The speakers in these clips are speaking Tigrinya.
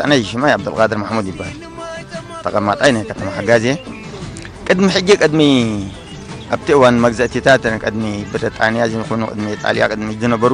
ኣነ ሽማይ ዓብደልቃድር ማሕሙድ ይበሃል ተቐማጣይ ናይ ከተማ ሓጋዜ ቅድሚ ሕጂ ቅድሚ ኣብቲ እዋን መግዛእቲታት ቅድሚ ብሪጣንያ ዝኹኑ ቅድሚ ጣልያ ቅድሚ ዝነበሩ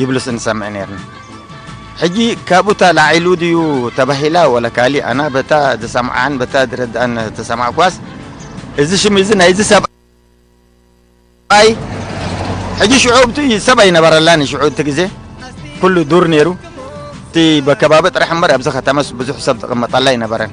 ይብሉስ እንሰምዕ ኔርና ሕጂ ካብኡ ተላዒሉ ድዩ ተባሂላ ወላ ካሊእ ኣና በታ ዝሰምዓን በታ ዝረድኣን ተሰማዕኳስ እዚ ሽም እዚ ናይዚ ሰብ ኣይ ሕጂ ሽዑ ብቲ ሰብ ኣይነበረላን ሽዑ እቲ ግዜ ኩሉ ዱር ነይሩ እቲ በከባቢ ጥራሕ እምበር ኣብዚ ከተመስ ብዙሕ ሰብ ዝቕመጠላ ኣይነበረን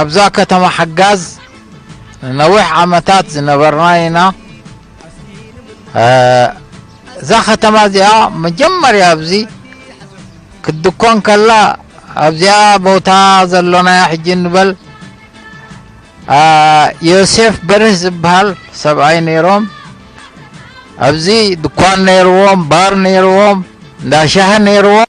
ኣብዛ ከተማ ሓጋዝ ንነዊሕ ዓመታት ዝነበርና ኢና። እዛ ከተማ እዚኣ መጀመርያ ኣብዚ ክትድኮን ከላ ኣብዚኣ ቦታ ዘሎናያ ሕጂ ንበል ዮሴፍ በርህ ዝበሃል ሰብኣይ ነይሮም ኣብዚ ድኳን ነይርዎም ባር ነይርዎም እንዳሻህ ነይርዎም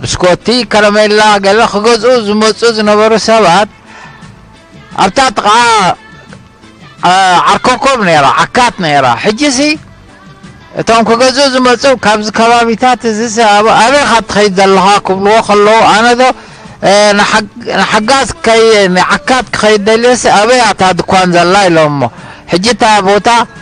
ብስኮቲ፣ ከረሜላ ገለ ክገዝኡ ዝመጽኡ ዝነበሩ ሰባት ኣብታ ጥቓ ዓርኮኮብ ነይራ ዓካት ነይራ ሕጂሲ እቶም ክገዝኡ ዝመፁ ካብዚ ከባቢታት እዚ ሰኣብ ኣበይ ካብ ትኸይድ ዘለኻ ክብልዎ ከለዉ ኣነ ዶ ንሓጋዝ ከይ ንዓካት ክኸይድ ደልዮሲ ኣበይ ኣታ ድኳን ዘላ ኢሎሞ ሕጂ እታ ቦታ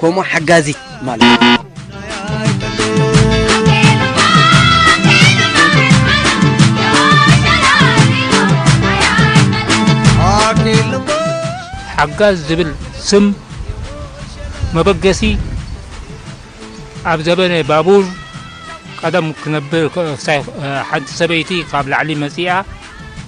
ኮሞ ሓጋዚት ማለት እዩ። ሓጋዝ ዝብል ስም መበገሲ ኣብ ዘበነ ባቡር ቀደም ክነብር ሓንቲ ሰበይቲ ካብ ላዕሊ መፂኣ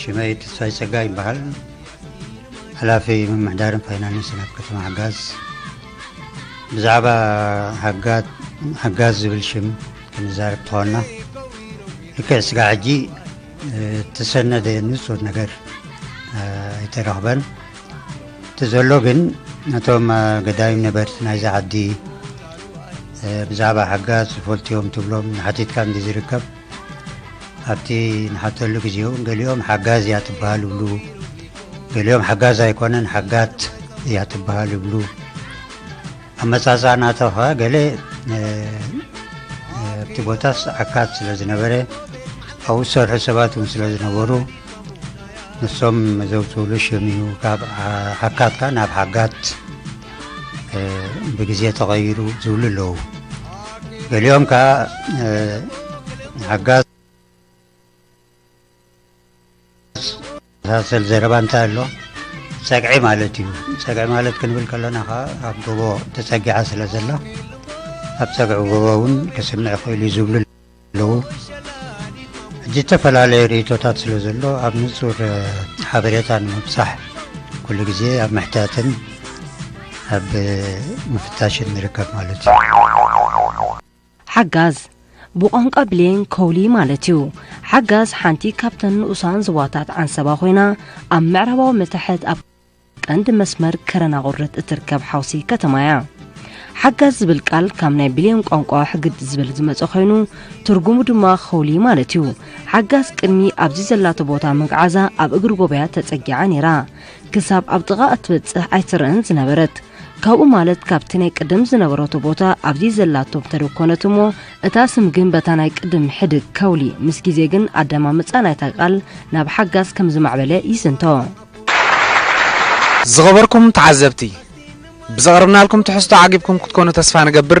ሽመይ ተስፋይ ጸጋ ይበሃል ሓላፊ ምምሕዳርን ፋይናንስን ኣብ ከተማ ሓጋዝ ብዛዕባ ሓጋዝ ዝብል ሽም ክንዛርብ ተኾና ልክዕ ስጋ ሕጂ እተሰነደ ንጹር ነገር ኣይተረኽበን እቲ ዘሎ ግን ነቶም ገዳይም ነበርቲ ናይዚ ዓዲ ብዛዕባ ሓጋዝ ዝፈልጡ እዮም ትብሎም ንሓቲትካ እንዲ ዝርከብ ኣብቲ ንሓተሉ ግዜ እውን ገሊኦም ሓጋዝ እያ ትበሃል ይብሉ ገሊኦም ሓጋዝ ኣይኮነን ሓጋት እያ ትበሃል ይብሉ ኣመጻጽኣ ናታ ኸኣ ገለ ኣብቲ ቦታስ ዓካት ስለ ዝነበረ ኣብኡ ዝሰርሑ ሰባት እውን ስለ ዝነበሩ ንሶም ዘውፅእሉ ሽም እዩ ካብ ዓካት ከዓ ናብ ሓጋት ብግዜ ተቐይሩ ዝብሉ ኣለዉ ገሊኦም ከዓ ሓጋት ዝመሳሰል ዘረባ እንታይ ኣሎ ጸግዒ ማለት እዩ ጸግዒ ማለት ክንብል ከለና ከዓ ኣብ ጎቦ ተጸጊዓ ስለ ዘላ ኣብ ጸግዒ ጎቦ እውን ክስምዕ ክእል እዩ ዝብሉ ኣለዉ ሕጂ ዝተፈላለየ ርእቶታት ስለ ዘሎ ኣብ ንጹር ሓበሬታ ንምብጻሕ ኩሉ ግዜ ኣብ ምሕታትን ኣብ ምፍታሽን ንርከብ ማለት እዩ ሓጋዝ፣ ብቋንቋ ብሌን ኮውሊ ማለት እዩ። ሓጋዝ ሓንቲ ካብተን ንኡሳን ዝዋታት ዓንሰባ ኮይና ኣብ ምዕራባዊ መታሕት ኣብ ቀንዲ መስመር ከረናቑርት እትርከብ ሓውሲ ከተማ እያ። ሓጋዝ ዝብል ቃል ካብ ናይ ብሌን ቋንቋ ሕግድ ዝብል ዝመፀ ኮይኑ ትርጉሙ ድማ ኸውሊ ማለት እዩ። ሓጋዝ ቅድሚ ኣብዚ ዘላቶ ቦታ ምግዓዛ ኣብ እግሪ ጎበያት ተፀጊዓ ነይራ። ክሳብ ኣብ ጥቓ እትበፅሕ ኣይትረእን ዝነበረት። ካብኡ ማለት ካብቲ ናይ ቅድም ዝነበረቶ ቦታ ኣብዚ ዘላቶ ተደብ ኮነት እሞ እታ ስም ግን በታ ናይ ቅድም ሕድግ ከውሊ ምስ ግዜ ግን ኣደማምጻ ናይታ ቃል ናብ ሓጋዝ ከም ዝማዕበለ ይስንቶ። ዝኸበርኩም ተዓዘብቲ፣ ብዘቕረብናልኩም ትሕዝቶ ዓጊብኩም ክትኮኑ ተስፋ ንገብር።